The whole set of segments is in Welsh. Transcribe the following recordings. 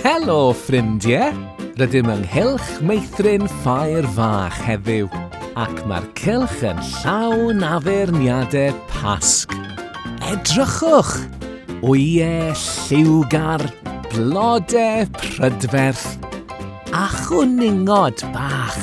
Helo, ffrindiau! Rydym yng nghylch meithrin ffair fach heddiw, ac mae'r cylch yn llawn addurniadau pasg. Edrychwch! Wyau, lliwgar, blodau, prydferth a chwningod bach.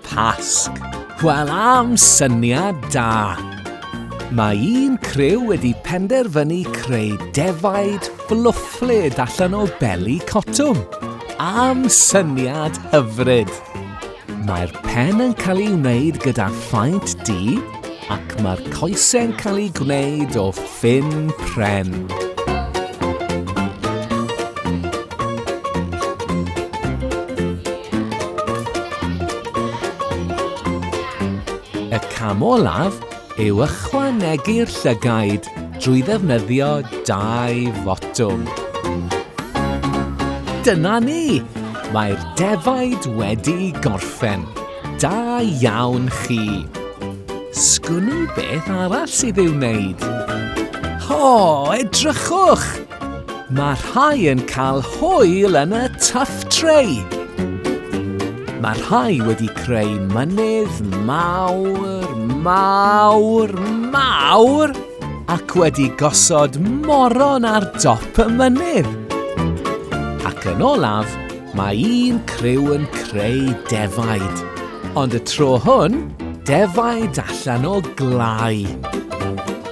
Pasg. Wel am syniad da! Mae un criw wedi penderfynu creu defaid fflwfflyd allan o beli cotwm. Am syniad hyfryd! Mae'r pen yn cael ei wneud gyda phaent du, ac mae'r coesau'n cael eu gwneud o ffyn pren. cam olaf yw ychwanegu'r llygaid drwy ddefnyddio dau fotwm. Dyna ni! Mae'r defaid wedi gorffen. Da iawn chi! Sgwn i beth arall sydd i'w wneud. O, edrychwch! Mae rhai yn cael hwyl yn y tuff tray. Mae rhai wedi creu mynydd mawr, mawr, mawr ac wedi gosod moron ar dop y mynydd. Ac yn olaf, Mae un criw yn creu defaid, ond y tro hwn, defaid allan o glai.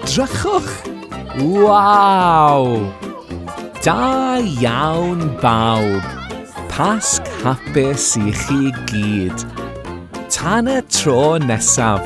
Drychwch! Waw! Da iawn bawb! Pasg hapus i chi gyd! Tan y tro nesaf!